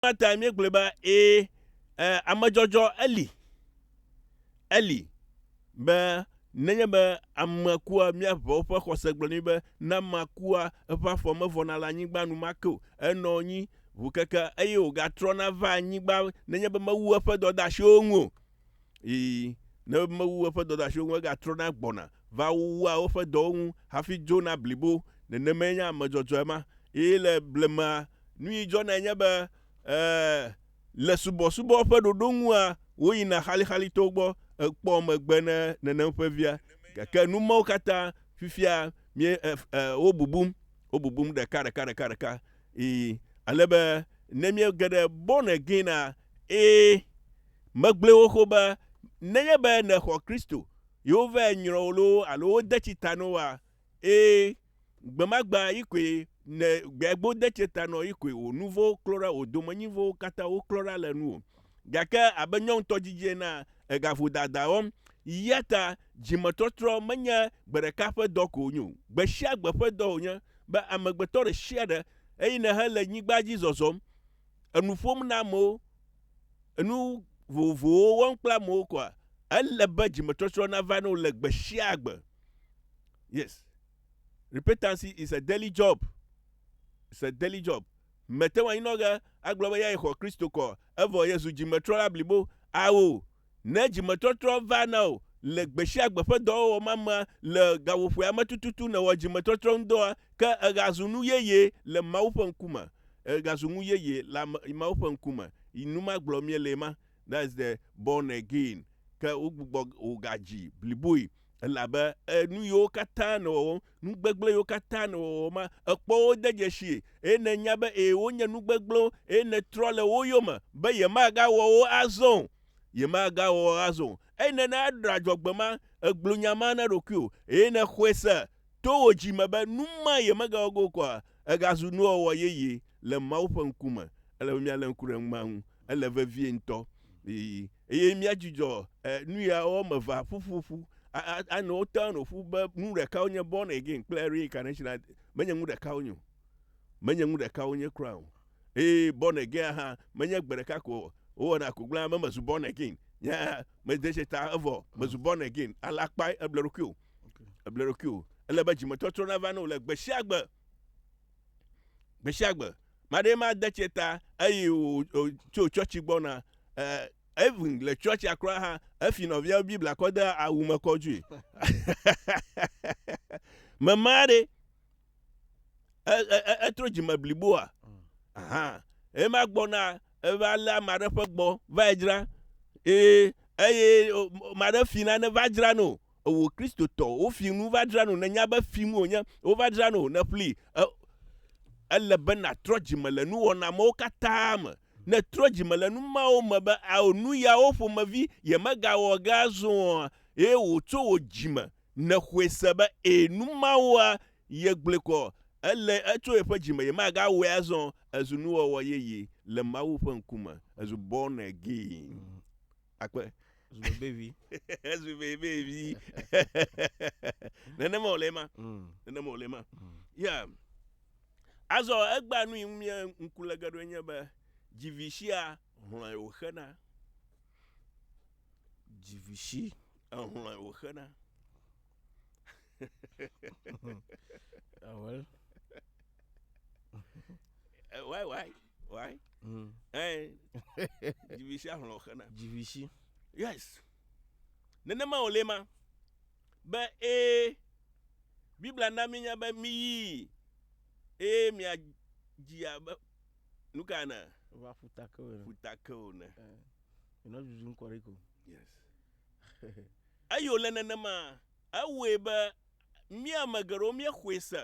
Eya tae míegblɔe be, ee, e, amedzɔdzɔ eli, eli, be nenye be ame kua, míaʋa woƒe xɔse gblɔ nɛ be, ne ame kua, eƒe afɔ mevɔna le anyigba enumake o, enɔ anyi ʋu keke eye wògatrɔna va anyigba nenye be mewu eƒe dɔdeasiwo ŋu o. Ii, ne mewu eƒe dɔdeasiwo ŋu, egatrɔna gbɔna va wua woƒe dɔwo ŋu hafi dzona blibo. Nenemae nye ame dzɔdzɔe ma. Eye le blemea, nu yi dzɔnae nye be, ee, le subɔsubɔ ƒe ɖoɖo ŋua, woyina xalixalitowo gbɔ ekpɔ megbe ne nenem ƒe via. Gake nu mawo katã fifia mie, e, e, wobubum, wobubum ɖeka, ɖeka, ɖeka, ɖeka. Ii, ale be ne míege ɖe born again-a, ee, Megblɔe xoxo be nenye be nèxɔ Kristo, yewovae nyrɔ wò loo alo wode tsi ta nɔ wòa? Ẽ, gbemagbe yi koe ne gbegbe wode tsi ta nɔ yi koe wò nu vɔ̃wo klɔ ɖa, wò domenyi vɔ̃wo katã woklɔ ɖa le nuwò. Gake abe nyɔ ŋutɔ didi enea, ègaƒo dada wɔm. Eya ta dzimetɔtrɔ menye gbe ɖeka ƒe dɔ ko wònye o, gbesiagbe ƒe dɔ wònye be amegbetɔ ɖesiaɖe, eyi nèhe le nyigba dzi zɔzɔm, enu ƒom na amewo, enu vovovowo wɔm kple amewo koa, ele be dzimetɔtrɔ nava ne wole gbe sia gbe. Yes. Repentancy is a daily job. It's a daily job. Mete ŋu anyinɔge agblɔ be ya xɔ Kristo kɔ, evɔ Yesu dzimetrɔ la blibo. Ao, Ne dzimetɔtrɔ va na wò le gbesiagbe ƒe dɔwɔwɔ mamea le gaƒoƒoea me tututu nèwɔ dzimetɔtrɔ ŋudɔa, ke ègazu nu yeye le Mawu ƒe ŋkume. Ègazu nu yeye le Mawu ƒe ŋkume. Nu ma gblɔm míele ma. That is the born again. Ke wogbugbɔ wò gadzi bliboe elabe nuyiwo katã nèwɔwɔm Nu gbegblẽwo katã nèwɔwɔ ma, èkpɔ wo de dzesii, eye nènya be ee, wonye nu gbegblẽwo, eye nètrɔ le wo yome be yemagawɔ wo azɔ o. Yemagawɔ wo azɔ o. Eye nèna eɖe adzɔgbe ma, ègblɔ nya ma na ɖokuiwò, eye nèxɔe se to wò dzi me be nu ma yemegawɔ ge o kura. Ègazu nuwɔwɔ yeye le Mawu ƒe ŋkume, ele be míalé ŋku ɖe nu ma ŋu. Ele vevie ŋutɔ. Ii. Eye míadzudzɔ nu ya wɔme evea ƒuƒu ƒu anɔ wo town o ƒu be nu ɖeka wonye born again kple reincarnation menye nu ɖeka wonye o. Menye nu ɖeka wonye kura o. Eye born again hã menye gbe ɖeka ko wowɔna ko gblẽna be mezu born again nye mede se ta evɔ mezu born again ale akpae eble eɖokui o. Eble eɖokui o. Ele be dzimetɔtrɔ nava ne wò le gbe sia gbe. Gbesiagbe, maɖee ma de tse ta eyi wòtso tsɔtsi gbɔna. Even le tsɔtsia kura hã, efi nɔviawo Biblia kɔ de awu me kɔ dzoe. Mema ɖe, etro dzime bliboa? Aha, ema gbɔna eva lé ame aɖe ƒe gbɔ va yi dzra. Eye, eye ame aɖe fi nane va dzra no. Ewò Kristotɔ, wò fi nu va dzra nu. Nènya be fi nu wònye. Wova dzra nu wò, nèƒli. E, ele be nàtrɔ dzime le nuwɔna mawo katã me. Ne trɔ dzime le nu mawo me be ao nu yawo ƒomevi yemegawɔ ge azɔ oa, eye wò tso wò dzi me nèxɔe se be ẽ nu mawoa yegblɔe kɔ, ele etso yeƒe dzi me yemagawɔe azɔ o, ezu nuwɔwɔ yeye le Mawu ƒe ŋkume. Ezu born again. akpe zubebevi zubebevi nenema wòle ema mm. nenema wòle ema mm. ya azɔ egba nu yi mie ŋku le geɖo nye be dzivisia hlɔe wòxena dzivisi ehlɔe wòxena awel ah, why why why mm. eh dzivisi ahlɔ xena dzivisi yes nenema wòle ma be ee biblia na mínya be míyi eye miadzi abe nu ka ene va ƒutake o ene ƒutake o ene yinɔ eh, dudum kɔ ɖi ko yes eyi wòle nenema ewɔe be míame geɖewo míexɔe se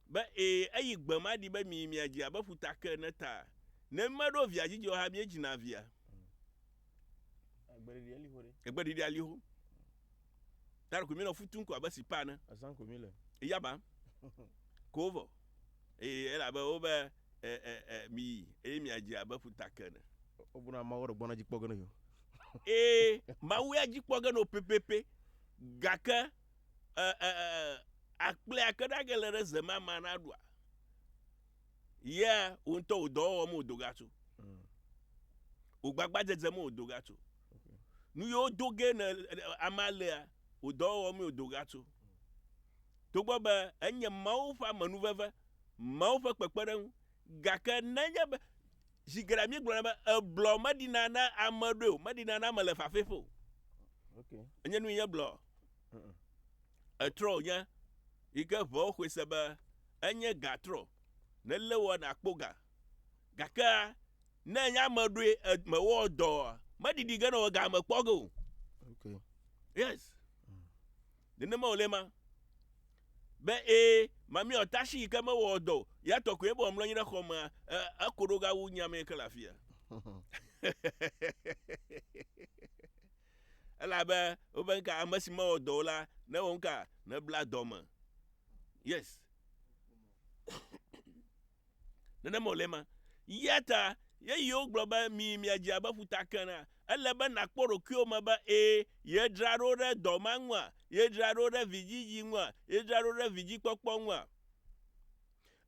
Be, Ee, eyi gbe ma ɖi be miyi mia dzi abe ƒuta ke ene ta. Ne meɖo via dzi dzi o hã miedzina via. Egbe ɖeɖi ali ho ɖe. Egbe ɖeɖi ali ho. Ta ɖeko mi nɔ fu tum ko abe sipa ene. Azan ko mi le. Eya ba. Ko vɔ. Ee, ele abe wo be e, e, e, miyi eye mia dzi abe ƒuta ke ene. O bu na ma wo ɖe gbɔna dzi kpɔ ge ne yo. Ee, ma wo ya dzi kpɔ ge no pepepe. Gake. e e e akple akeɖage le ɖe ze ma ma na ɖua yea wo ŋutɔ wò dɔwɔwɔ me wò doga tso mm. wò gbagba dzedze me wò doga tso nu yiwo do ge ne ama lea wò dɔwɔwɔ me wò doga tso togbɔ be enye mawo ƒe amenuveve mawo ƒe kpekpeɖeŋu gake nenye be zi geɖe míegblɔna be eblɔ meɖina na ame ɖoe o meɖina na ame le fafɛƒe o okay. enye nu yi nye blɔ Etrɔ wònye, yi ke ŋewo xɔe se be enye gã trɔ, nelé wɔ nàkpɔ gã. Gake ne enye ame ɖoe ed- mewɔ dɔ oa, meɖiɖi ge ne wɔ gã mekpɔ ge o. Okay. Yes. Nenema wòle ma. Be ee, mamia tashi yi ke mewɔ dɔ o, ya tɔ koe bɔbɔ mlɔ anyi ɖe xɔ mea, e, eko ɖo gawu nye ame yi ke le afia. Elabe wobe nuka ame si mewɔ dɔ o la newɔ nuka nebla dɔ me. Yes. Nenema wòle ma. Ya ta yeyiwo gblɔ be mi miadze abe ƒuta ke na. Ele be nàkpɔ ɖokuiwò me be ee yedzra ɖo ɖe dɔ ma ŋua? Yedzra ɖo ɖe vidzidzi ŋua? Yedzra ɖo ɖe vidzikpɔkpɔ ŋua?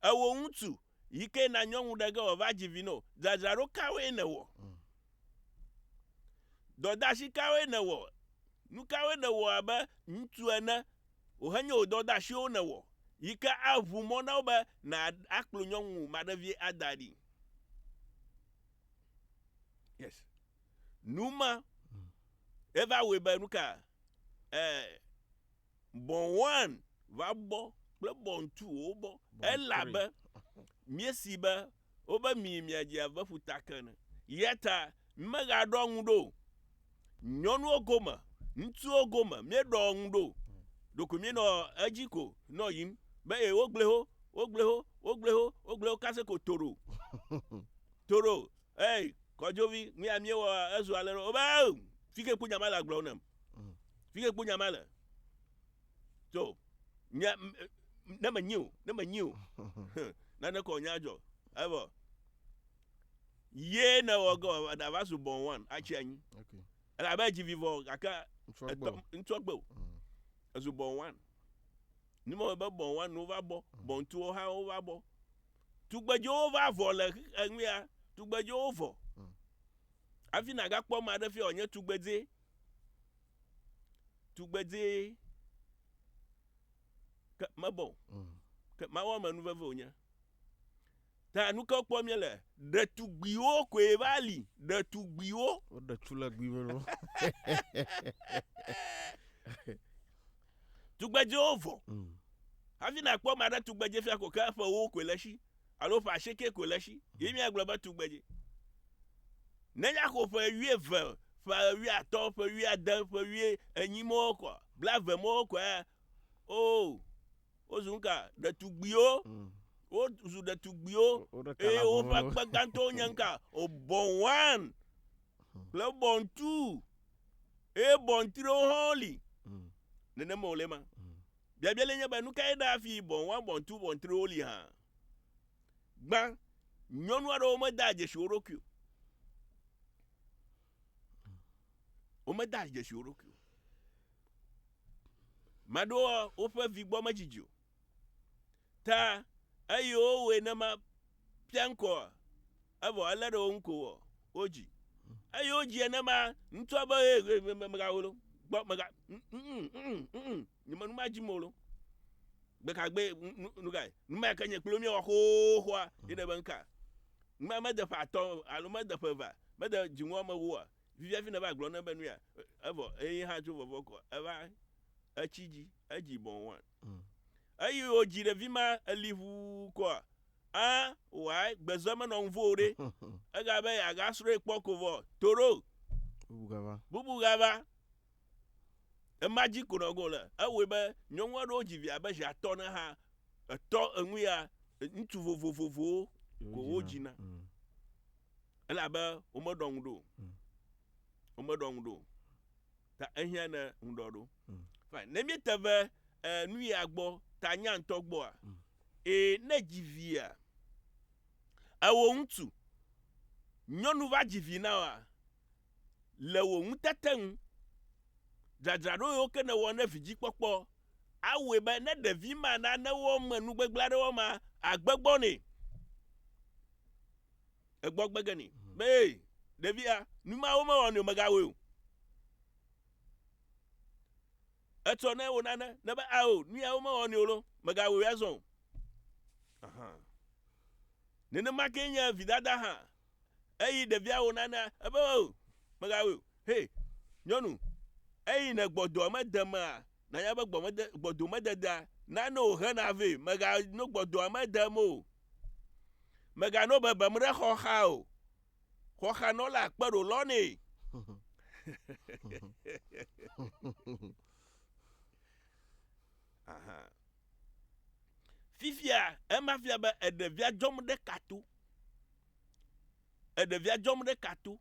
Ewò ŋutsu Yi ke na nyɔnu ɖe ge wòava dzi vi no. Dzadzraɖo kawoe nèwɔ? Dɔdeasi kawoe nèwɔ? Nu kawoe nèwɔ abe ŋutsu ene wòhenye wò dɔdeasiwo nèwɔ yi ke aʋu mɔ na wo be nàkplɔ nyɔnu maɖevie ada ɖi? Yes. Nu ma eva wɔe be nu ka? Ɛɛ. Bɔ̃an va bɔ kple bɔ̃ntuwo bɔ, elabe míesee be wobe mi miadze abe ƒuta ke ene. Eyata mímegaɖɔa ŋu ɖo o. Nyɔnuwo gome, ŋutsuwo gome, míeɖɔa ŋu ɖo o. Ɖeko míenɔ edzi ko nɔ yiyim be, Ee, wogblẽ ho, wogblẽ ho, wogblẽ ho, wogblẽ ho kase ko toɖo, toɖo, ee, kɔdzovi, nuya míewɔa, ezu alẽɖɔ. Wobe, Ee, fike kpɔ nya ma le agblɔ nam? Mm. Fige kpo nya ma le. So, nya, ne me nyi o, ne me nyi o, nane kɔ nya dzɔ. Evo. Ye ne wɔ gɔ, da va su bɔn wan, atsi anyi. Ok. Ele abe edzi vivɔ, gake Ŋutsua gbɔ. etɔ, ŋutsua gbɔ o. Mm. Ezu bɔn wan. Ni mɔ be bɔn wan wo va bɔ, bɔn tuwo hã wo va bɔ. Tugbedzewo va vɔ le xix- enuya, tugbedzewo vɔ. Hafi nàgakpɔ ame aɖe fia wòanye tugbedzɛ, tugbedzɛ ke mebɔ o. Mm. Ke Mawu ame nu veve wònye. Ta nu ke kpɔ míele, ɖetugbiwo koe va li, ɖetugbiwo. Woɖe tu le gbi me no. Tugbedzɛwo vɔ. Mm. Hafi nàkpɔ ame aɖe tugbedzɛ fia ko ke eƒewo koe le esi. alo ƒe asieke koe le esi ye míagblɔ be tugbedze. Nenye axɔ ƒe wuieve, ƒe wuiatɔ̃, ƒe wuiade, ƒe wuienyi mɔwo kɔ, blave mɔwo kɔ ya, oo, wozu nu ka? Ɖetugbiwo. Mm. Wozu ɖetugbiwo. Woɖeka Eye labowo woƒe lo. akpe gãtɔwo nye nuka? Obɔn one kple bɔn two. Eye bɔn triwo hã woli. Mm. Nenema wòle ema. Biabia le nye be, nu kae ɖaa fii bɔ̃ wɔa bɔ̃tu bɔ̃triwo li hã? Gbã, nyɔnu aɖewo medaa dzesi wo ɖokui o. Womedaa dzesi wo ɖokui o. Maɖewo woƒe vi gbɔ medzidzi o. Ta, eye wowɔe ne ma pia ŋkɔ ɔ, evɔ ele ɖe wo ŋko wɔ wo dzi. Eye wo dzi ene ma ŋtɔ be eye eye eye mega wo lo gbɔ mega mm mm mm nye me nu ma dzi mo lo. Gbeka gbe nu nu ga nu ma ke nye kplo mi wɔ xoxoa ye ne be nka. Nu ma me de ƒe atɔ alo me de ƒe va me de dzi ŋɔ me woa vivia fi ne va gblɔ ne be nu ya evɔ eye hã tso vɔvɔ kɔ eva etsi dzi edzi bɔn wan. Eyi o dzi ɖe vi ma eli ʋu kɔa a wai gbezɔ me nɔ ŋvo ɖe ega be ya ga sroi kpɔ ko vɔ toro bubu gava bubu gava ema dzi ko nɔ go le ewe be nyɔnu aɖewo dzi via be zia tɔ ne ha etɔ enu ya ŋutsu vovovovowo ko wo dzi na mm. elabe wo me ɖɔ ŋu ɖo wo me ɖɔ ŋu ɖo Ta ehiã ne ŋuɖɔ ɖo. Mm. Fine. Ne míete ve e, nu ya gbɔ ta nya ŋutɔ gbɔa, mm. e, ne dzi via, ewò ŋutsu, nyɔnu va dzi vi na wa, le wò ŋutete ŋu, dzadzraɖo yiwo ke nèwɔ ne vidzikpɔkpɔ awɔe be ne ɖevi ma nane wɔ me nugbegblẽ aɖewo ma, agbegbɔ nɛ. egbɔ gbe ge nɛ be ee ɖevia nu ma womewɔ nɛ o megawɔe o. Etsɔ ne wonane ne be ao nu ya womewɔ nɛ o lo megawɔe azɔ o. Aha. Nenema ke nye vidada hã eyi ɖevia wonanea ebe o megawɔe o. Hey nyɔnu eyi ne gbɔdɔ mede mea nanya be gbɔmede gbɔdo mededea nane o hena vɛ mega no gbɔdɔa mede me o. Mègano bebem ɖe xɔxa o. Xɔxanɔlaa kpe ɖo lɔ nɛ. Aha. Fifia ema fia be eɖevia dzɔm ɖe ka to. Eɖevia dzɔm ɖe ka to.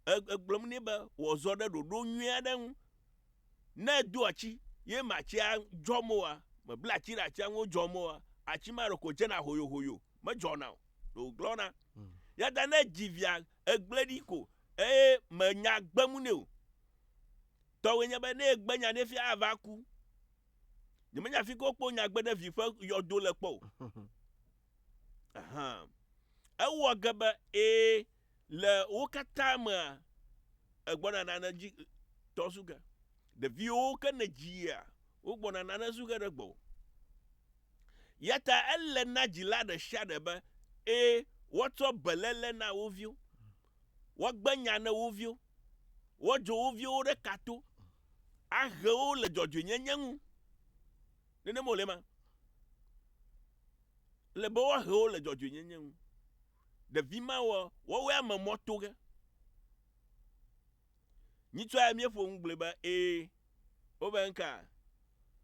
Egblɔm nɛ be wòazɔ ɖe ɖoɖo nyui aɖe ŋu. Ne edo atsi, ye me atsia dzɔm oa, mebla atsi ɖe atsia ŋu wodzɔm oa, atsi ma ɖeko dzena hoyohoyo, medzɔna o, ɖe wògblɔna. Hmm. Ya ta ne edzi via, egblẽ ɖi ko, eye menya gbem nɛ o. Tɔwòe nye be ne egbe nya ɖe fia ava ku. Nyemenya fi ke wokpɔ nya gbe ɖe vi ƒe yɔdo le kpɔ o. Ahan. Ewɔ ge be ee, Le wo katã mea, egbɔna nane dzi tɔ su ge. Ɖeviwo ke ne dzia, wogbɔna nane su ge ɖe gbɔwò. Ya ta ele na dzila ɖe sia ɖe be, ẽ, woatsɔ beléle na wo viwo, woagbe nya ne wo viwo, woadzro wo viwo ɖe ka to, ahe wo le dzɔdzɔenyenye ŋu. Nenema wòle ema? Ele be woahe wo le dzɔdzɔenyenye ŋu. Ɖevi ma wɔ wɔwɔe ame mɔ to ge. Nyitsɔ ya mie ƒo ŋugble be ee, wo be nka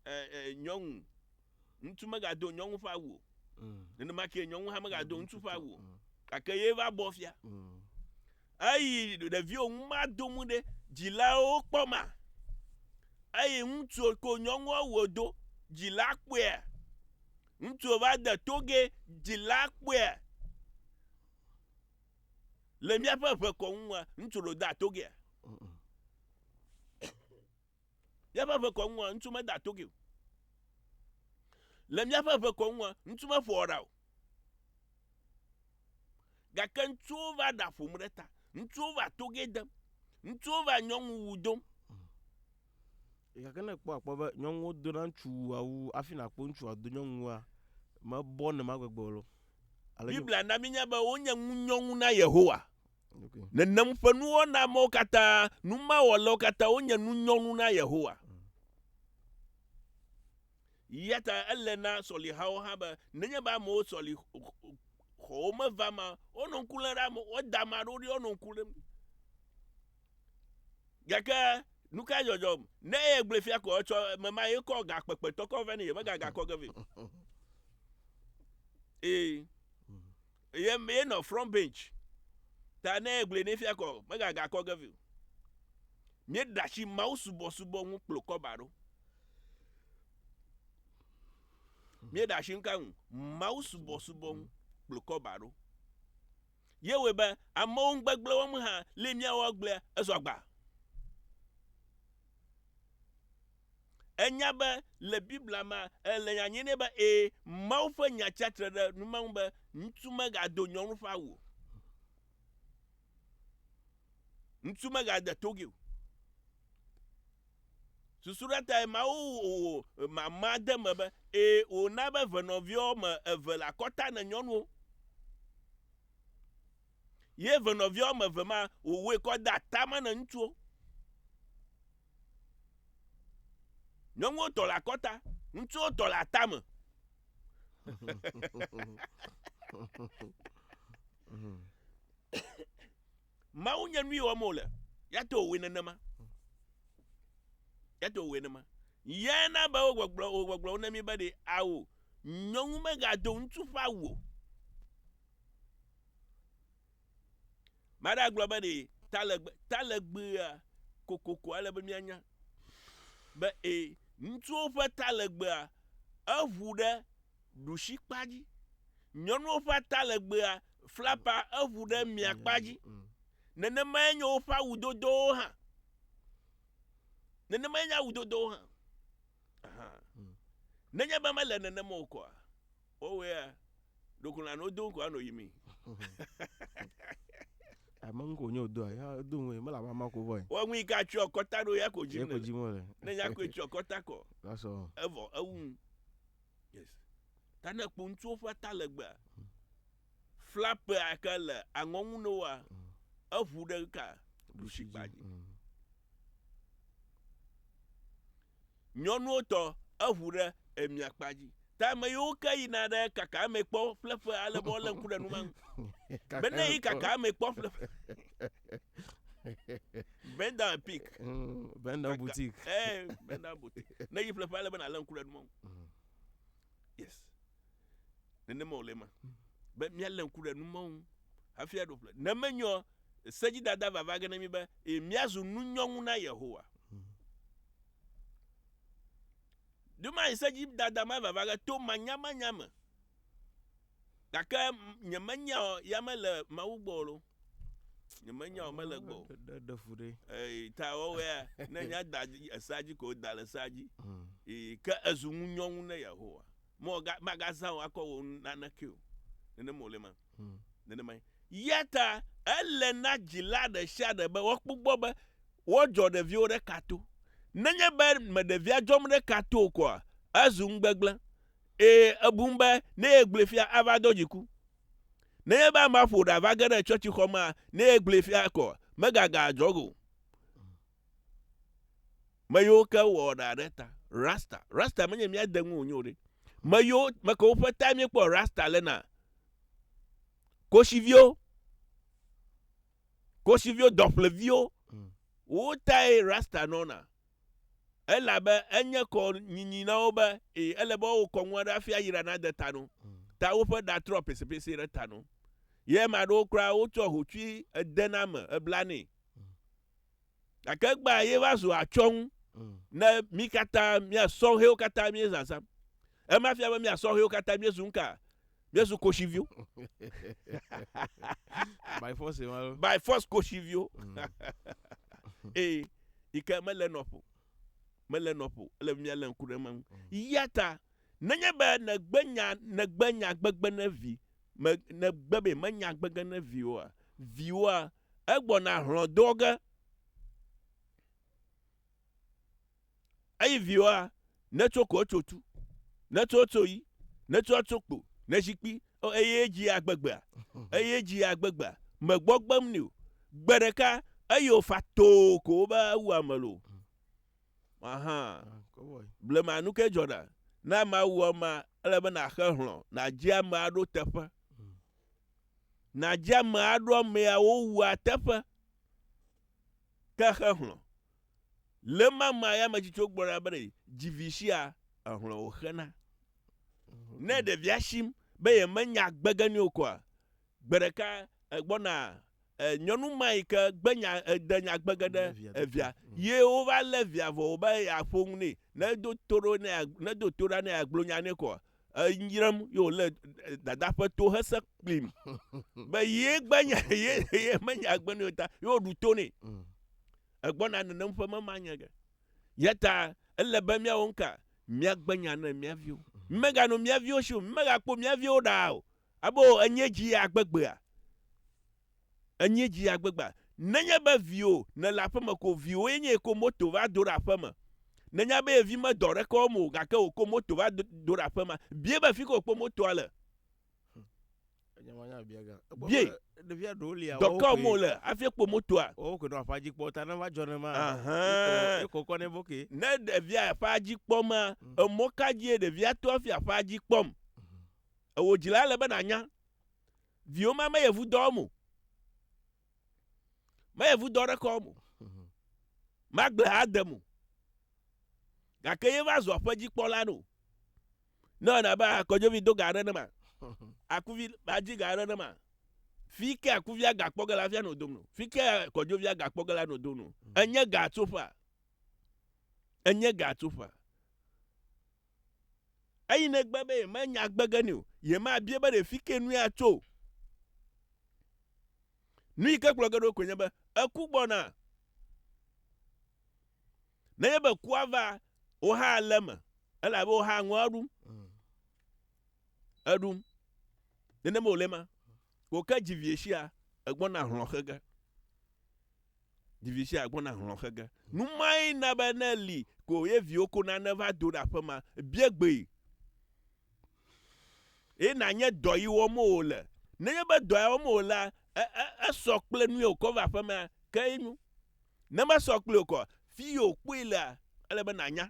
e, e, nyɔnu, ŋutsu mega do nyɔnu ƒe awu o. Mm. Nene ma ke nyɔnu hã mega do ŋutsu ƒe awu o. Mm. Gake ye va bɔ fia. Mm. Eyi ɖeviwo ŋu ma do mu ɖe dzilawo kpɔ ma. Eyi ŋutsu ko nyɔnua wo do dzila kpɔe. Ŋutsu va de togɛ dzila kpɔea le míaƒe ʋe kɔ ŋua ŋutsu lo da togɛa? Míaƒe ʋe kɔ ŋua ŋutsu me da togɛ o. Le míaƒe ʋe kɔ ŋua ŋutsu me ƒo ɔra o. Gake ŋutsuwo va ɖa ƒom ɖe ta. Ŋutsuwo va togɛ dem. Ŋutsuwo va nyɔnu wu dom. Gake ne ekpɔ akpɔ be nyɔnuwo dona ŋutsu wua wu afi nakpɔ ŋutsu wòado nyɔnu wua, mebɔ nema gbegbe o. Biblia na mínya be wonye ŋunyɔnu na Yehowa. Nenem ƒe nuwɔna mawo katã, nu mawɔlawo katã wonye nunyɔnu na Yehowa. Eya ta ele na sɔlihawo hã be nenye be amewo sɔli xɔwo meva ma, wonɔ ŋku lém ɖe ame, woda ame aɖewo ɖi wonɔ ŋku lém. Gake nu ka dzɔdzɔm? Ne eye gblẽ fia ko etsɔ me ma ye kɔ ga kpekpe tɔkɔ vɛ ne yeme ga ga kɔ ge vɛ. Ee. Ye me ye nɔ front bench. Ta ne eye gblẽ ne fia ko me ga ga kɔ ge vɛ. Mie dashi mawu subo subo ŋu kplo kɔ ba ro. Mie dashi nka ŋu mawu subo subo ŋu kplo kɔ ba ro. Ye wɔe be amewo ŋugbegblẽ wɔm hã li míawɔ agblea ezɔ agba. Enya be le Biblia me ele nya nyui nɛ be ee, Mawu ƒe nya tsia tre ɖe numa ŋu be ŋutsu megado nyɔnu ƒe awu o. Ŋutsu megade togi o. Susu ɖe tae Mawu wò mamã de eme be, Ee, wòna be ve nɔviwo wɔme eve le akɔta ne nyɔnuwo. Ye ve nɔviwo wɔme eve ma, wòwɔe kɔ de atame ne ŋutsuwo. Nyɔnuwo tɔ le akɔta, ŋutsuwo tɔ le atame. Mawu nye nui wɔm wòle. Ya to wòwɔe nenema. Ya to wòwɔe nenema. Yae na be wogbɔgblɔ wogbɔgblɔ wo na mi be ɖe ao nyɔnu megado ŋutsu ƒe awu o. Maɖe agblɔ be ɖe talegbe talegbea kokoko ale be mianya be e ŋutsuwo ƒe talegbea eʋu ɖe ɖushikpa dzi. Nyɔnuwo ƒe atalegbea flapa eŋu ɖe miakpa dzi. Nenemae nye woƒe awudodowo hã. Nenemae nye awudodowo hã. Aha. Nenye be mele nenema o koa, wowɔea ɖeko nɔ anɔ do koa nɔ yi mi. Ame ŋu ko nye wodoa, ya do ŋu mele ame ma ko vɔ. Wɔ ŋu yi ka tsyɔ kɔta ɖo ya ko dzi. Ya ko dzi mo le. Ne ya ko tsyɔ kɔta kɔ. That's all. Evɔ ewu. Yes. Ta ne kpo ŋutsuwo ƒe ata legbea, flapea ke le aŋɔ ŋu ne woa, eʋu ɖe ka ɖusi kpa dzi. Nyɔnuwo tɔ eʋu ɖe emia kpa dzi. Ta ame yiwo ke yina ɖe kaka ame kpɔ ƒleƒe ale be wole ŋku ɖe nu ma ŋu. Bene yi kaka ame kpɔ ƒleƒe. Venda pik. Mm, Venda butik. Eh, Venda butik. Ne yi ƒleƒe ale be nalé ŋku ɖe numɔ. Mm. Yes. Nenema wòle ma. Mm. Be míalé ŋku ɖe numɔ ŋu hafi aɖo ƒle. Ne menyɔ sedzidada vava ge ne mi be e, míazu nunyɔnu na Yehowa. Mm. Duma yi sedzidada ma vava ge to manyamanya me. Gake nyemenya ya mele Mawu gbɔ o. nyemenya o mele gbɔ ɖe fu ɖe ta wɔwɔa ne nya da esa dzi ko da le esa dzi hmm. ke ezu ŋu nyɔnu ne yehowa mɔ ga magazã o akɔ wo naneke o nene mo le ma hmm. nene ma yata ele na dzila ɖe sia ɖe be wɔkpɔ gbɔ be wɔdzɔ ɖeviwo ɖe kato nenye be me ɖevia dzɔm ɖe kato o koa ezu ŋu gbegblẽ eye ebum be ne yegblẽ fia ava do dziku Nenye be amea ƒo ɖa va ge ɖe tsɔtsixɔ mea, ne egblẽe fia kɔ, megaga adzɔ ge o. Meyiwo ke wɔ ɖa ɖe ta, rasta. Rasta menye mía de ŋu wònye o ɖe. Meyiwo, mekewo ƒe tae míekpɔ rasta le na. Kosiviwo, kosiviwo, dɔƒleviwo, wowo tae rasta nɔna. elabe enye kɔ nyinyi na wo be e, ele be woawɔ kɔnu aɖe hafi ayra nade ta no. Ta woƒe ɖa trɔ pesepeseɛ ɖe ta no. Ye ame aɖewo kura wotsɔ hotsui ede na ame ebla nɛ. Gake egbea ye va zu atsɔŋu ne mí katã mía sɔhɛwo katã míezazã. Ema fia be mía sɔhɛwo katã míezu nuka? Míezu koshiviwo. By force ma ɖo. By force koshiviwo. Eye yi ke mele nɔƒo. Mele nɔƒo. Ele be míalé ŋku ɖe ema ŋu. Ya ta nenye be nègbe nya nègbe nya gbegbe ne vi me nègbe be menya gbege ne viwoa viwoa egbɔna hlɔ̃ do ge. Eyi viwoa, ne tso ko tso tu, ne tso tso yi, ne tso tso kpo, ne zikpi, o eye dzi agbegbea, eye dzi agbegbea, megbɔ gbem ni o. Gbe ɖeka, eye wòfa too ko wobe awu ame lo. Aha, blema nu ke dzɔ ɖa, ne ame awu ema, ele be nàxe hlɔ, nàdzi ame aɖo teƒe. Nàdzi ame aɖo amea wowu ateƒe, ke xe hlɔ. Le ma ma ya me tsitso gbɔ ɖa bene dzi vi shia ehlɔ̃ wo xena. Ne ɖe via shim be ye me nya gbe ge nio koa, gbe ɖeka egbɔ na e nyɔnu ma yi ke gbe nya ede nya gbe ge ɖe evia ye wo va le via vɔ wo be ya ƒo ŋu ne ne do to ɖo ne ya ne do to ɖa ne ya gblɔ nya ne koa enyram ye wòle dada ƒe to hese kplim be ye gbenya ye ye menya agbe ne ta ye woɖu to nɛ mm. egbɔna nenem ƒe mema nye ge ya ta ele be míawo ŋka míagbenya ne mía viwo mm. meganɔ mía viwo si o megakpɔ mía viwo ɖaa o abo enye dzi agbegbea Enye dzi ya gbegba. Nenye be viwo nèle aƒeme ko viwoe nye ko moto va do ɖe aƒeme. Nènya be ye vi medɔ ɖeke wɔm o gake wòko moto va do ɖe aƒema. Biae be fike wòkpɔ motoa le. Biae. Dɔ ka wɔm wòle hafi ekpɔ motoa. Ahãa. Ne ɖevia aƒea dzi kpɔma, emɔ ka dzie ɖevia to hafi aƒea dzi kpɔm? Ewò dzila ele be nànya. Viwo ma meyevu dɔ wɔm o. Meyevu dɔ ɖe kɔm o. Magblẽ ha dem o. Gake ye va zu aƒedzikpɔla no. Ne ewɔna abe akɔdzovi do ga aɖe ne ma, akuvi va dzi ga aɖe ne ma, fi ke akuvia ga kpɔ ge la, afia no dom no. Fi ke akɔdzovia ga kpɔ ge la no dom no. Enye ga tsoƒea. Enye ga tsoƒea. Eyi negbe be yemenya gbe ge nɛ o, yemabia be ɖe fi ke nue atso o. Nu yi ke gblɔ ge ɖo koe nye be eku gbɔna. Nenye be kua va, wò hã le eme elabe wò hã ŋua ɖum. Eɖum. Nenema wòle ma. Wò ke dzivie sia egbɔna hlɔ̃ xe ge. Dzivie sia egbɔna hlɔ̃ xe ge. Nu mae na be ne li ko ye viwo ko nane va do ɖe aƒe ma, bia gbee. Eye nanye dɔ yi wɔm wòle. Nenye be dɔ ya wɔm wòlea, e, e, esɔ kple nu ye wòkɔ va aƒe ma ke enyo. Ne mesɔ kpli o kɔ, fi ye wòkpɔe lea, ele be nànya.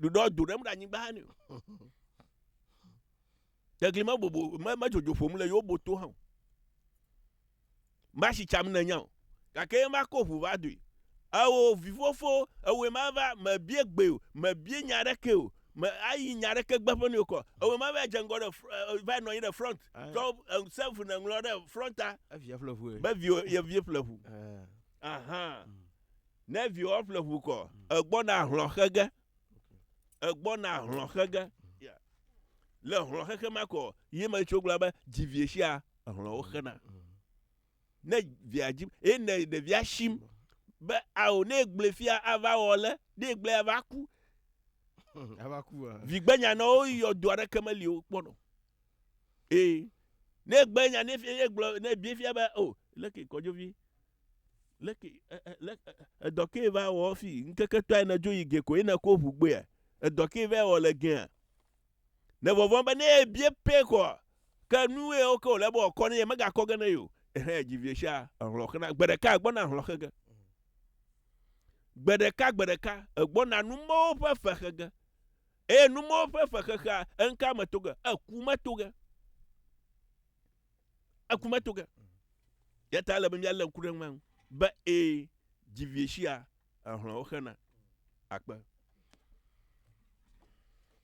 ɖuɖɔ do ɖem ɖe anyigba ne tegli me bobo me me dzodzo ƒom le yewo boto hã o ma si tsam ne nya o gake ma ko ʋu va doe ewɔ vivofo ewɔ ma va me bie gbe o me bie nya ɖe ke o me ayi nya ɖe ke gbe ƒe ne o kɔ ewɔ ma va dze ŋgɔ ɖe va nɔ anyi ɖe front tɔ sɛnfu ne ŋlɔ ɖe fronta eviɛ ƒle ʋu be vi ye vi ƒle ʋu ahan. Mm. Ne viwò ƒle ʋu kɔ, egbɔna hlɔ̃ xe ge. Egbɔna hlɔ̃ xe ge. Le hlɔ̃ xexe ma kɔ, yi me tso gblɔ be dzi vie sia, hlɔ̃wo xena. Ne via dzi, ye ne ɖevia shim be ao ne gblẽ fia ava wɔ le, ne gblẽ ava ku. Ava ku. Vigbenya na wo yɔ do aɖeke meli wo kpɔnɔ. Ee. Ne gbenya ne fia ye gblɔ ne bie fia be o, oh, leke kɔdzovi Leke e, e, le, e, edɔ ke va wɔ fi ŋkeke tɔe ne dzo yi ge ko yina ko ʋu gbea? Edɔ ke va wɔ le gea? Ne vɔvɔn be ne ye bie pɛ kɔ, ke nu ye wo ke wòle be wòkɔ ne ye megakɔ ge ne yo. Ehɛ dzi vie sia ehlɔ xena. Gbe ɖeka egbɔna hlɔ xe ge. Gbe ɖeka gbe ɖeka egbɔna numɔwo ƒe fe xe ge. Eye numɔwo ƒe fe xexea, enka me to ge? Eku me to ge. eku meto ge. Ya ta ele be míalé ŋku ɖe eŋu be ee dzivie sia ehlɔ̃wo xena akpe.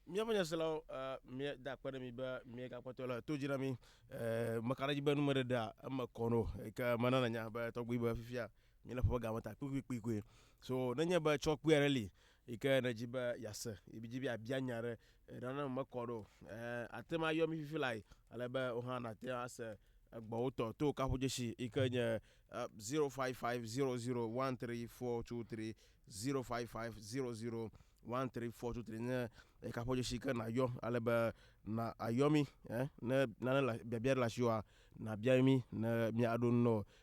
Míaƒe nyaselawo eh, míeda akpe ɖe mi be miegakpɔtɔ le to dzi na mi. Eh, meka ɖe edzi be numeɖeɖea eme kɔ no ke menana nya be tɔgbi be fifia míele ƒe game ta kpikpikpikpui. So nenye be tsɔ kpui aɖe li Eyi ke nèdzi be yease, yi dzi be yeabia nya ɖe, nane wòmekɔ ɖo o. Ẽ, ate ŋu ayɔ mí fifi lae, ale be wò hã nàte ŋu ase egbɔwo tɔ to kaƒodzesi yi ke nye zero five five zero zero one three four two three, zero five five zero zero one three four two three nye kaƒodzesi yi ke nàyɔ ale be na àyɔ mí. Ẽ, ne nane le, biabia ɖe le asiwòa, nàbia mí ne míaɖo nu na wò.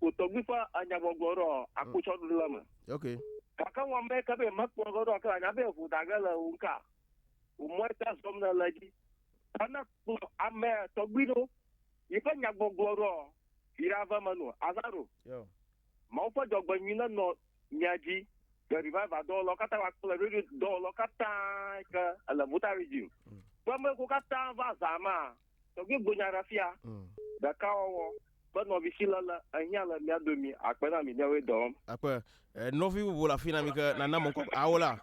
wò tɔgbui ƒe anyagbɔgblɔ ɖɔ akpotsɔɖuɖu la me. Ok. Gake wɔ mɛ ke be mekpɔ ge ɖɔ ke la nya be evo da ge le wò ŋka. Wò mɔ ete zɔm ne le dzi. Ta ne kplɔ ame tɔgbui ɖo yi ƒe nyagbɔgblɔ ɖɔ yi ɖa ve me no. Azaro. Yeah. Mawu ƒe dzɔgbenyui ne nɔ mia dzi le revival dɔwɔlɔ kata wa kple radio dɔwɔlɔ kata ke ele Vota region. Kpɔ ame ko kata va za ma. Tɔgbe gbo nya ɖa fia. Mm. Ɖeka wɔwɔ be nɔvi si le le ehiã le mia domi akpe na mi ne we dɔm. Akpe eh, nɔvi bubu la fina mi ke na na mɔnkɔ awo la.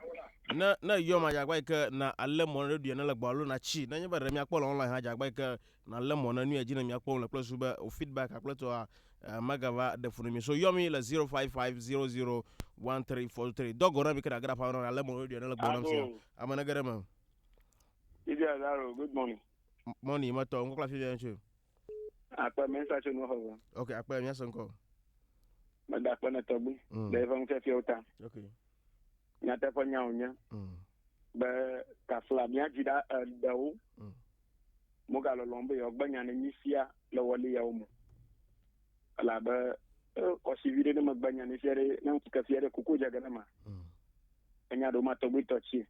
Ne ne yɔ ma jagba ke na ale mɔ ne ɖuɖu ne le gbalo na chi. Ne nye be re mia kpɔ le online ha jagba ke na le mɔ ne nu edzi ne mia kpɔ le kple su be o feedback akple to a eh, magava de funu mi. So yɔ mi le 0550013423. Dogo na mi ke na gra pa na ale mɔ ne ɖuɖu ne le gbalo na mi. Ame ne gere me. Idia Zaro, good morning. Mɔni ma tɔ ŋkɔ kple afi bia tso. Akpɛ mɛ sa tso nua xɔvɔ. Ok akpɛ mɛ sa ŋkɔ. Mɛ da akpɛ ne tɔgbi. Mm. Ɖe eƒe nufiafiawo ta. Ok. Nyateƒe nyawo nye. Mm. Be kafla mía dzi ɖa eɖewo. Mm. Mogalɔlɔm be yewoagbe nya ne mí fia le wɔli yawo me. Elabe kɔsi viɖe ne megbe nya ne fia ɖe ne ŋkeke fia ɖe kuku dze ge ne ma. Mm. Menya ɖo matɔgbuitɔ tsi.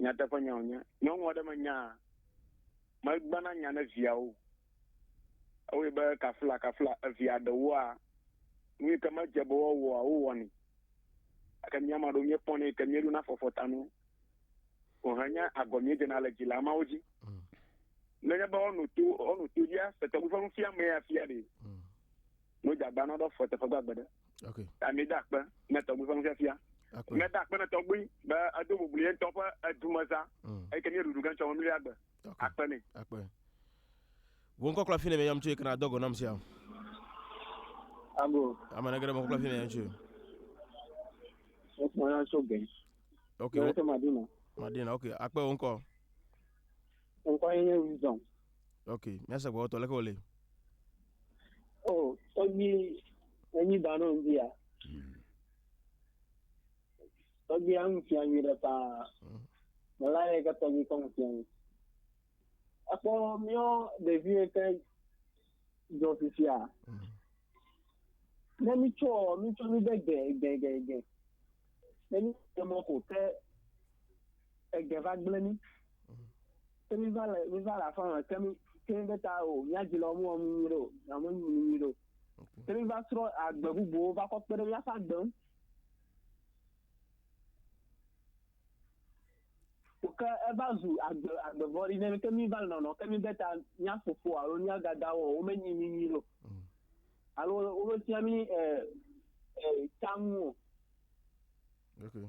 Nyateƒe nya wònye. Nyɔnu aɖe menyaa, megbana nya ne viawo o. Ewɔe be kaflakafla evia ɖewoa, nu yi ke medze be woawɔa, wowɔnɛ. Gake mía maɖewo míekpɔnɛ yi ke míeɖona fɔfɔtanu ko henye agɔ míedzena le dzila mawo dzi. Mm. Nenye be woano to, woano to dzia, se tɔgbi ƒe nufiamee afia ɖee. Mm. Mojagba na dɔ fɔ teƒe gbagbe ɖe. Ok. Ami da akpe ne tɔgbi fɔ nufiafia. Akpe. Ne da akpe ne tɔgbi be edo bubuli ye ŋutɔ ƒe edumeza. Mm. Eyi ke mi ɖuɖu ke ŋutɔ me mli agbe. Ok. Akpe ne. Akpe. Wo ŋkɔ kla fi ne mi yam tso ekena dɔ gɔ nam sia. Abo. Ame ne gere mo kla fi ne yam tso. Ekpɔ ya tso gɛ. Ok. Wo tso Madina. Madina. Ok. Akpe wo ŋkɔ. Ŋkɔ ye nye Wisdom. Ok, míase gbɔgbɔtɔ leke wòle. O, oh, tɔgbi enyi da nɔ ŋdi ya. Hmm. Tɔgbi ya ŋu fia nyui ɖe paa. Hmm. Mela ye ke tɔgbi kɔ ŋu fia nyui. Ekpɔ míɔ ɖevi ye ke dzɔ fifia. Hmm. Ne mi tsɔ mi tsɔ mi de gɛ gɛ gɛ gɛ. Ne mi tsɔ mɔ ko ke ege va gblẽ mí. Ke mí va le mí va le afɔ me ke mí ke mí be ta o mía dzi le wɔm wɔm nyuie ɖo na me nyuie nyuie ɖo. Ke mí va srɔ̃ agbe bubuwo va kɔ kpe ɖe mía ƒe agbe ŋu. Ke eva zu agbe agbe vɔɖi ne ke mí va le nɔnɔ ke mí be ta mía fofo alo mía dada wɔ wo menyi mí nyuie ɖo. Mm. Alo wo me fia mí ɛ eh, ɛ eh, tamu o. Okay.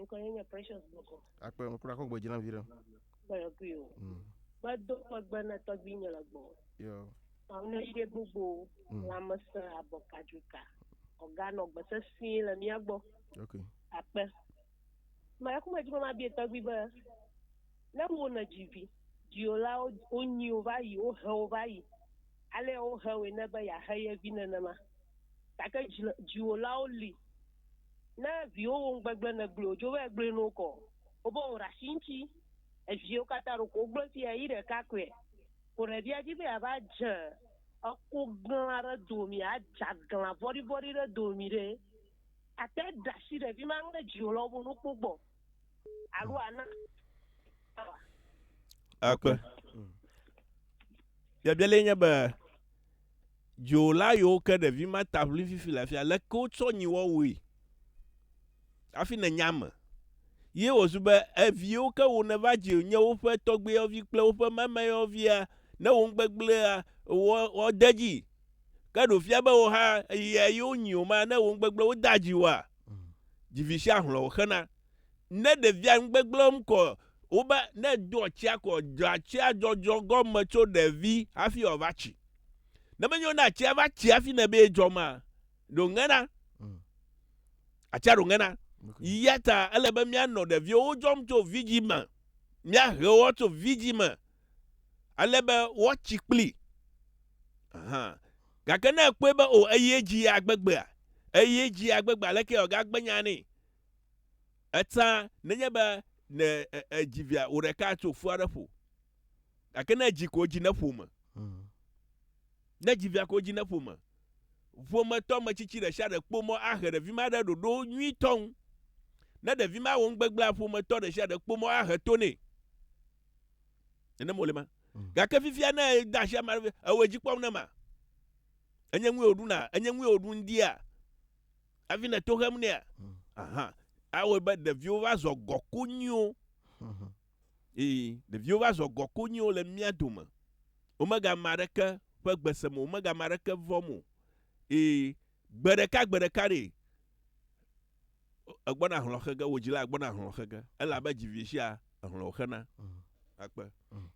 Ŋkɔ ye nye Precious Bɔkɔ. Akpe ŋu kura kɔ gbe dzram vi ɖe. Gbɛlɛkui o. Mm. Gbedo megbe na tɔgbuinye le gbɔ. Yo. Amnɔyide gbogbo mm. lãmesẽ abɔkadzoka ɔganɔ gbe sesĩe le mía gbɔ. Okay. Akpe. Mɛkumɛ dzi be mabie tɔgbui be ne wo ne dzi vi dziolawo wonyi wo va yi wohe wo va yi ale wohe woe ne be yeahe ye vi nenema gake dziwolawo li Na viwówo ŋgbegble ne gblɔɛ wódzo vaɛ gblɔɛ nɔwo kɔ wóbe wó ɖasi ŋtsi eviɛwo kata ɖoko wógblɔɛ fiɛ yi ɖeka koɛ ko ɖevia dji be yava dze eko gla ɖe domi adze agla vɔɖi vɔɖi ɖe domi ɖɛ ate ɖasi ɖevi ma ŋle djiwo le wóbe nuko gbɔ alo ana awa. Ekpe. Biabia lɛ nye be. Dziwòla yiwo ke ɖevi ma ta ʋli fifi le afia, leke wotsɔ nyiwɔ wui hafi nènya eme? Ye wòzu be evi yiwo ke wò nèva dzi nye woƒe tɔgbuiyɔvi kple woƒe mamayɔvia, ne wò nugbegblẽa wɔ wɔ de edzi. Ke ɖe wòfia be wò hã eya ye wonyi wò ma, ne wò nugbegblẽ wode adzi wòa? Dzivi sia hlɔ̃ wòxena. Ne ɖevia nu gbegblẽm kɔ wobe ne doa tsia kɔ dzɔa tsia dzɔdzɔ gɔme tso ɖevi hafi wòava tsi. Ne menye wo ne atsia va tsi hafi ne be edzɔ ma ɖo ŋena. Mm. Atsia ɖo ŋena. Okay. Yata ele be mianɔ ɖeviwo wodzɔm tso vidzi me. Miahe wo tso vidzi me. Ale be woatsi kpli. Aha. Gake ne ekpɔe be o eye dzi ya gbegbea, eye dzi ya gbegbea, aleke wòagagbe nya nɛ? Etsã nenye be ne èdzi via wò ɖeka tso fua ɖe ƒo, gake ne èdzi ko dzi ne ƒome. Hmm. Ne èdzi via ko dzi ne ƒome. Ƒometɔ metsitsi ɖe sia ɖe kpɔ mɔ ahe ɖevi ma ɖe ɖoɖo nyuitɔ ŋu. Ne ɖevi ma wɔ nugbegbea, ƒometɔ ɖe sia ɖe kpɔ mɔ ahe to nɛ. Nenem wòle ma. Hmm. Gake fifia ne ede asi ame aɖe, ewɔ edzi kpɔm ne ma. Enye ŋue wòɖuna, enye ŋue wòɖu ŋdia. Hafi nè to hem nea? Hmm. Aha. Awɔe be ɖeviwo va zɔ gɔku nyuiwo. Hmm. Ee, ɖeviwo va zɔ gɔku nyuiwo le mía dome. Womega ame aɖeke ƒe gbe sem o, womega ame aɖeke vɔm o. Ee, gbe ɖeka gbe ɖeka ɖe egbɔna hlɔxe ge, wò dzila gbɔna hlɔxe ge, elabe dzivieshia ehlɔ wòxena. Hmm. Akpe. Hmm.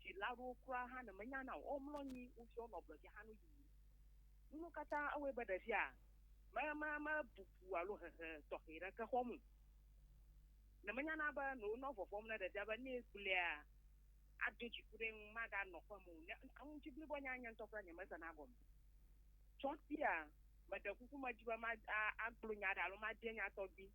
Dzila aɖewo kura hã ne menyana o, womlɔ anyi, wofiɔ wonɔ ablɔ dzi ahanɔ yiyi. Nuwo katã ewɔe be ɖevia me, me, mebubu alo hehe tɔxɛ ɖeke xɔm o. Ne menyana be ne wonɔ vɔvɔ̃m ne ɖevia be ne egblea, ado dziku ɖe eŋu, maganɔ aƒe me o, ne enu dzi blibo nya nye ŋutɔ kura nyemesena gɔme tsɔ sia, meɖe kuku medi be ma, a, agblɔ nya aɖe alo mabia nya tɔgbi.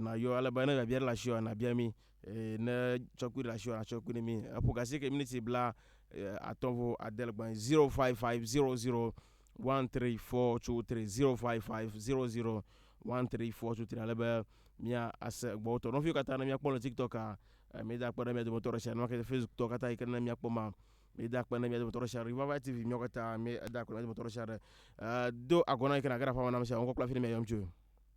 Nayɔ ale be ne biabia ɖe le asi oa nabia mi eye ne tsɔkpui ɖe le asi oa natsɔ kpui ne mi. Eƒo gasi ke miniti bla atɔ vo ade le gbɔnyi zero five five zero zero one three four two three zero five five zero zero one three four two three ale be mia ase egbɔwo tɔ. Nɔviwo katã ne mia kpɔ le TikTok a mi da kpe ɖe mia dometɔ ɖe sia nɔke Facebook tɔ katã yi ke ne mia kpɔ ma mi da kpe ɖe mia dometɔ ɖe sia Revival TV mia katã mi da kpe ɖe mia dometɔ ɖe sia ɖe. Do agɔna yi ke na ge ɖe aƒeme na mi sia ŋkɔ kple afi ne mia yɔm tsoe.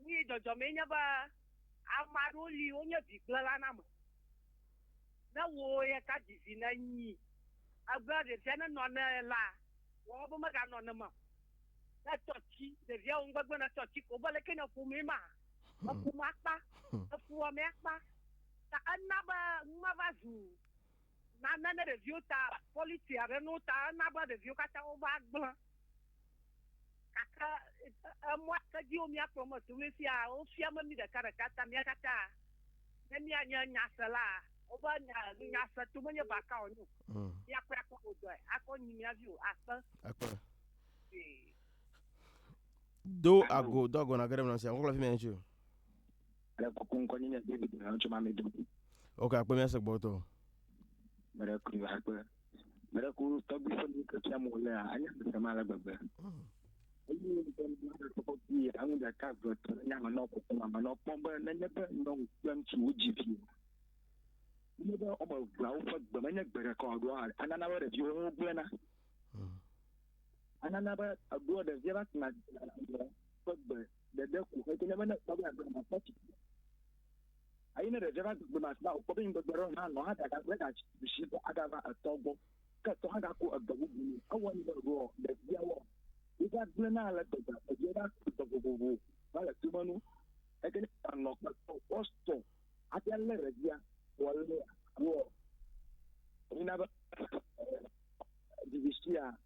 Nyuie dzɔdzɔmee nye be ame aɖewo li wonye bigblẽlaname. Ne wò ye ka dzi vi nènyi ebe ɖevia nenɔ ne la, wɔ ebe meganɔ ne me o. Ne tɔ tsi ɖevia wum gbegbe ne tɔ tsi ko be leke ne ƒomee ma, eƒome akpa, efuwɔmee akpa ta ena be nu ma va zu. Na ne ne ɖeviwo ta pɔliti aɖe no ta ena be ɖeviwo katã wova gblẽ. Gake emɔa ke dzi wo míakplɔ me so ɖo fia wofia me mí ɖeka ɖeka ta mía katã ne míanye nyaselaa woƒe nya nunya se to menye baka o nyo. Mm. Míakpɔe akpɔ wo dɔe akɔ nyi mía vi o akpe. Akpe. Ee. Do ago do ago na ke ɖe mlɔ sia. Wokpɔ le fi mɛ ŋutsu. Ale kuku ŋkɔ nye nye David na ŋutsu ma mi do. Ok, akpe mía se gbɔtɔ. Mele kuri va kpe. Mele ku tɔgbi se mi ke fia mo le a anya mi se ma le gbegbe. Hmm. Eyi ni mi ke mi ma se ko bi a ŋu da ka vre to nya ma no ko ko ma no pon be ne ne be no kpem tu u ji fi. Ne be o mo vra u fe gbe me ne gbe ko do a anana be vi o ŋu gbe na. Hmm. Anana be a do de vi ba na fe gbe ɖeɖe ko xɔ kene mena kpɔ bla gbema kpɔ ti ayi ne ɖeɖe va gbema sba kpɔ be ngbegbe ro na no ha daga gbe da shi ko aga va etɔ gbɔ ke tɔ ha ga ko egbe bubu ni awɔ ni ro de bia wo wo va gble na le gbegbe eje va to vovovo va le tu manu ekene ta no kpɔ kpɔ sto ate le re bia wo le wo ni na ba divisia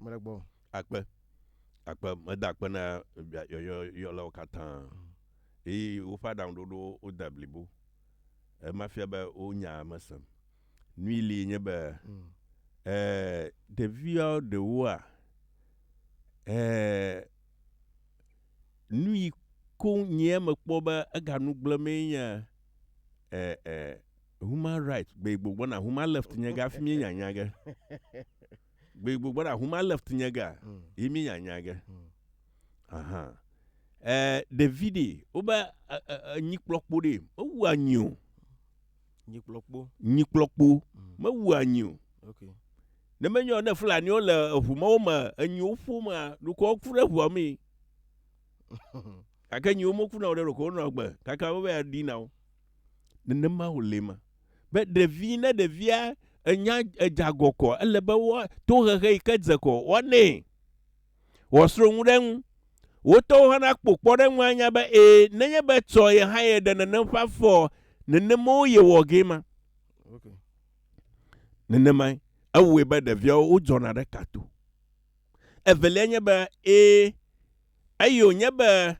Mele gbɔ. Akpe. Akpe. Meda akpe na yɔyɔyɔlawo katã. Eye woƒe aɖaŋuɖoɖowo wode blibo. Ema fia be wo nyaa me sem. Nui li nye be e ɖevia ɖewoa e nui koŋ nyea mekpɔ be ega nu gblẽ mee nye e e. Human right, gbegbo gbɔna human left nye ga fi mi nya nya ge. Gbegbo gbɔna human left nye ga mm. yi mi nya nya ge. Mm. Aha. Eh, Davide, wo ba eh, eh, eh, nyi kplɔkpo ɖe, o wu anyi o. Nyi kplɔkpo. Nyi kplɔkpo, mm. me wu anyi o. Okay. Ne me nyɔ ne Fulani wo le eʋu ma wo me, enyi wo ƒo ma, ɖukɔ wo ku ɖe ʋua mi. Ake nyi wo mo ku na wo ɖe ɖukɔ wo nɔ gbe, kaka wo bɛ ya di na wo. Nenema wòle ema. Be ɖevi, ne ɖevia enya edze agɔkɔ, ele be woa, tohehe yi ke dze kɔ woanɛ. Wòasrɔ̃ nu ɖe eŋu. Wo tɔwo hã nakpɔ kpɔɖeŋu anya be ẽ, nenye be etsɔ ye hã ye ɖe nenem ƒe afɔa, nenema wo yewɔ gee ma. Okay. Nenemae ewɔe be ɖeviawo wodzɔna ɖe ka to. Evelia nye be, ẽ, eye wònye be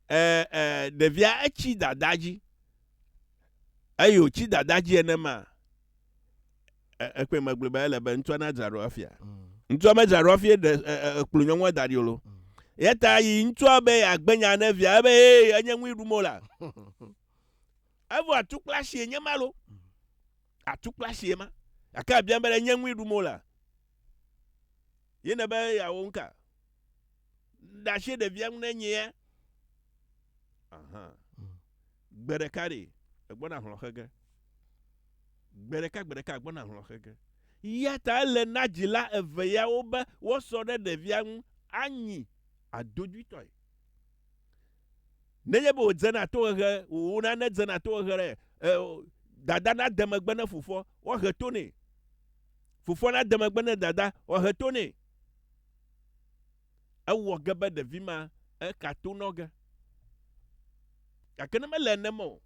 e, e, ɖevia etsi dada dzi eye wòtsi dada dzi enema ekpɔe megblɔ be ele be ŋutsua nadzra ɖo afia mm. ŋutsua medzra ɖo afia ɖe ekplu nyɔnua da ɖi o lo mm. ya ta yi ŋutsua be yeagbe nya ne via ebe ee enye ŋui ɖum o la evo atukpla si enye ma lo mm. atukpla si ema gake abiam be enye ŋui ɖum o la Ye ne be yeawɔ nuka? Ɖe asi ɖevia ŋu ne nyea? Aha. Hmm. Gbe ɖeka ɖe, egbɔna hlɔ xe ge. Gbe ɖeka, gbe ɖeka, egbɔna hlɔ xe ge. Ya ta ele na dzila eve yawo be woasɔ ɖe ɖevia ŋu anyi adodwitɔe. Nenye be wòdzena tohehe, wò nane dzena tohehe ɖe eo, dada nade megbe ne fofoa, woahe to nɛ. Fofoa nade megbe ne dada, woahe to nɛ. Ewɔ ge be ɖevi ma eka to nɔ ge. Gake ne mele nenema o,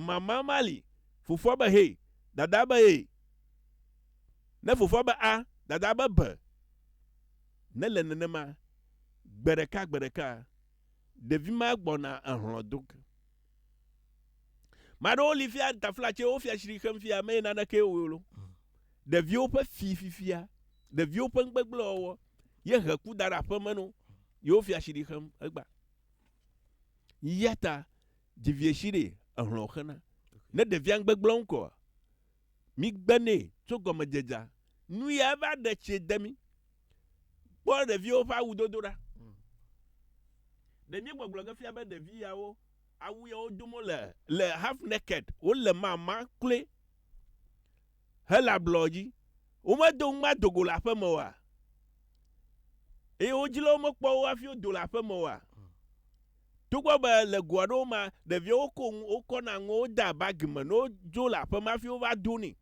mama ma li, fofoa be hee, dadaa be ee. Ne fofoa be a, dadaa be be. Nele nenema, gbe ɖeka gbe ɖeka. Ɖevi ma gbɔna ehlɔ̃ do ge. Mea ɖewo li fia tafla tse wofia tsri xem fia meye naneke wo lo. Ɖeviwo ƒe fi fifia, ɖeviwo ƒe nugbegble wɔwɔ ye he ku da ɖe aƒeme no ye wofia tsri xem egba. Yata dzivietsi ɖe ehlɔ̃ xena. Ne ɖevia nugbegble ŋkɔ Migbe nɛ tso gɔmedzedzea nu ya eva ɖe tsie de mí. Kpɔ ɖeviwo ƒe awudodo ɖa. Ɖe mía gbɔgblɔ ge fia be ɖevi yawo awu ya wo dom wo le le half naked, wo le mama kloe hele ablɔ dzi. Wo me do ŋgba do go le aƒe me oa? Eye wo dzila wo me kpɔ wo hafi wo do le aƒe me oa? Togbɔ be le go aɖewo mea, ɖeviwo woko nu, wokɔna nuwo wodea bagi me ne wodzo le aƒeme hafi wova donɛ,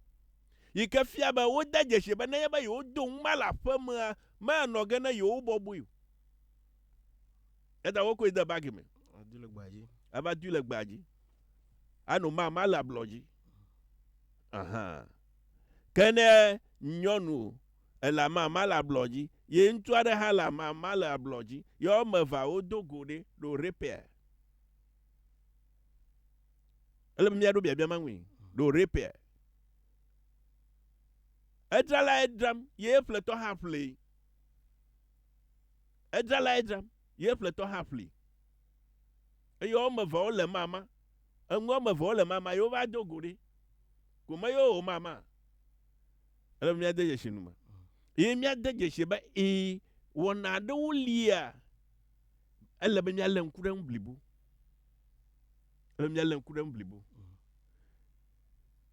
yi ke fia be wode dzesii be nenye be yewodo nu ma le aƒemea, manɔ ge ne yewo bɔbɔe o. Eya ta wokɔe de bagi me. Ava dui le gbea dzi. Ava dui le gbea dzi. Ano mama le ablɔ dzi. Aha. Ke ne nyɔnu ele amama le ablɔ dzi ye ŋutsu aɖe hã le amama le ablɔ dzi ye woame evea wodo go ɖe ɖo repair. Ele be míaɖo biabia ma ŋui ɖo repair. Edzralae dzram ye eƒletɔ hã ƒlee. Edzralae dzram ye eƒletɔ hã ƒlee. Eye woame eve wole mama. Enu woame eve wole mama ye wova do go ɖe. Ko me ye womama. Ele be míade dzesi nu me. Ye míade dzesi be ee, wɔna aɖewo lia, ele be míalé ŋku ɖe ŋu blibo. Ele be míalé ŋku ɖe ŋu blibo.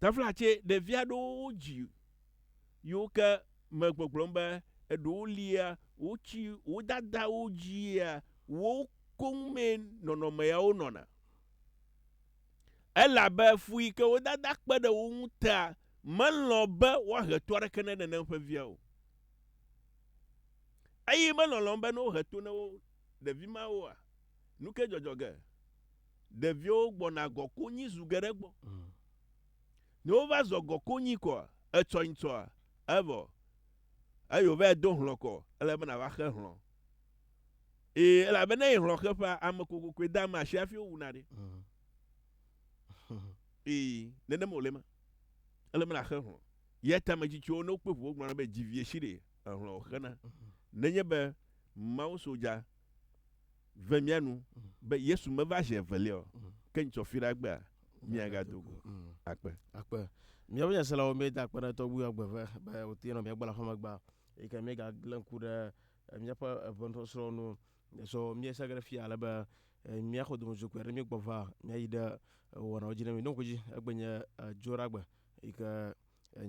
Tafla tse ɖevi aɖewo dzi yiwo ke me gbɔgblɔm be eɖewo lia wotsi wo dadawo dzia wo koŋ mee nɔnɔme yawo nɔna. Elabe fu yi ke wo dada kpe ɖe wo ŋu tea Melɔ̃ be woahe to aɖeke ne nenem ƒe via o. Eye melɔ̃lɔ̃m be ne wohe to ne wo ɖevi mawoa, nu ke dzɔdzɔ ge? Ɖeviwo gbɔna gɔ konyi zu geɖe gbɔ. Ne wova zɔ gɔ konyi kɔa, etsɔ nyi tsɔa, evɔ. Eye wòvae do hlɔ̃ kɔ, ele be nàva xe hlɔ̃. Ee, elabena eye hlɔ̃ xe ƒea, ame kokokoe dea ame asi hafi wowuna ɖi. Ee, nenem wòle ema. ele be nàxe hlɔ̃. Yɛ ta ametsitsiwo ne wokpe ŋu wogblɔna be dzi vie si ɖee, ehlɔ̃ wòxena. Nenye be mawusodza ve mía nu be Yesu meva zi evelia o, ke nyitsɔ fi ɖa gbea, míagado go akpe. Akpe. Míaƒe nyaselawo míeda akpe na tɔgbuiwo agbe ve be wòte nɔ mía gbɔ le aƒemegbea, eyi ke míegagblẽ ŋku ɖe míaƒe eŋuenusɔsrɔ̃wo nu Sɔ mía se ge ɖe fia ale be mía xɔ domedzo kpe ɖe mí gbɔ va mía yi ɖe wɔnawo dzi ne mi ɖoŋko dzi egbe nye dzo ɖa gbe yi ke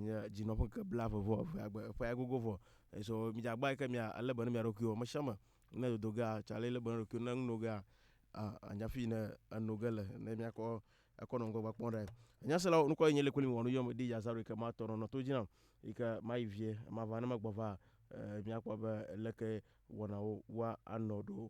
nye dzi nɔ ƒe ke bla ve vɔ ve agbe eƒe ya gogo vɔ sɔ mi dza gba yi ke mia ale be ne mia ɖokuiwo me shame ne dodo ga tsa le le be ɖokuiwo ne ŋu no ga a anya fi ne eno ge le ne mia kɔ Ekɔ nɔ ŋgɔgbe kpɔm ɖae. Enya se la wo nukɔ yi nye le kuli mi wɔnu yɔm di yazaru yi ke ma tɔ nɔ nɔ to dzi nam yi ke ma yi vie ma va ne me gbɔ va e mi a kpɔ be leke wɔnawo wa a nɔ ɖo.